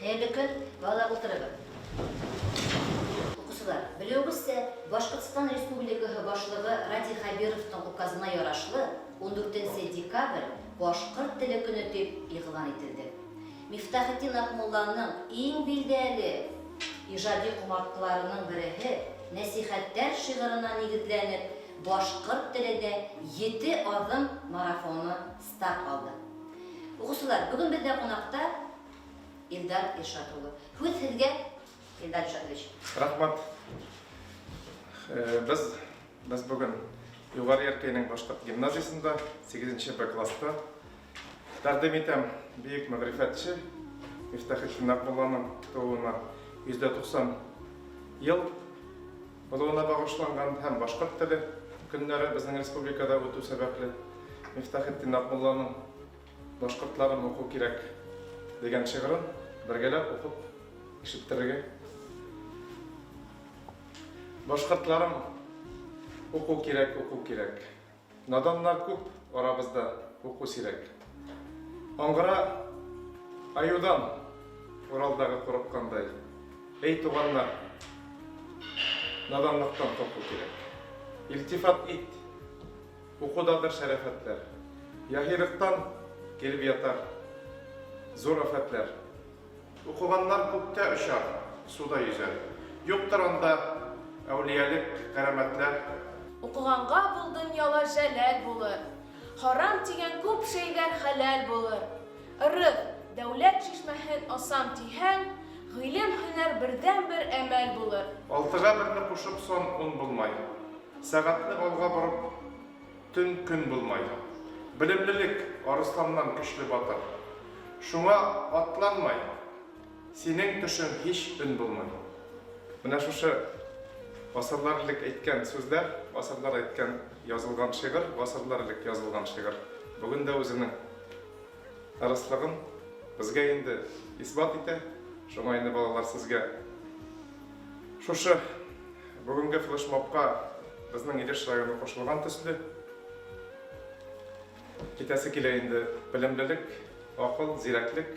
Хәерле көн, балалар утырыгыз. Укучылар, белүегезчә, Башкортстан Республикаһы Башлыгы Радий Хәбировның указына ярашлы, ундүртенче декабрь, Башкорт теле көне дип игълан ителде. Мифтахетдин Акмулланың иң билдәле иҗади кумарткаларының береһе Нәсыйхәттәр шигырына нигезләнеп, Башкорт телендә ете адым марафоны старт алды. Укучылар, бүген бездә кунакта Илдар Илшат улы. Һүз сезгә, Илдар Илшатович. Рәхмәт. Без без бүген Югары Яркәйнең башкорт гимназиясендә 8 Б класста тәкъдим итәм бөек мәгърифәтче Мифтахетдин Акмулланың тууына 190 ел Булуына багышланган һәм Башкорт теле көннәре безнең республикада үтү сәбәпле, Мифтахетдин Акмулланың Башкортларым уку кирәк! дигән шигырын бергәләп укып ишеттерергә. Башкортларым уку кирәк, уку кирәк! Наданнар күп арабызда, уку сирәк. Аңгыра аюдан Уралдагы курыккандай. Эй туганнар, наданлыктан курку кирәк. Илтифат ит, укудадыр шәрәфәтләр. Яһилыктан килеп ятар зур афәтләр. Укыганнар күктә очар, суда йөзәр. Юктыр анда әүлиялек, кәрамәтләр. Укыганга бул дөньяла җәләл булыр. Харам дигән күп шәйләр хәләл булыр. Ырык, дәүләт чишмәһен асам диһәң, Гыйлем, һөнәр бердәнбер әмәл булыр. Алтыга берне кушып сон ун булмай. Сәгатьне алга борып. Төн көн булмай. Белемлелек, арысланнан көчле батыр. Шуңа атланмай. Синең төшең һич өн булмай. Менә шушы гасырлар элек әйткән сүзләр, гасырлар әйткән язылган шигырь, гасырлар элек язылган шигырь, бүген дә үзенең дөрестлеген безгә инде исбат итә. Шуңа инде, балалар, сезгә шушы бүгенге флешмобка безнең Илеш районы кушылган төсле, китәсе килә инде белемлелек, акыл, зирәклек.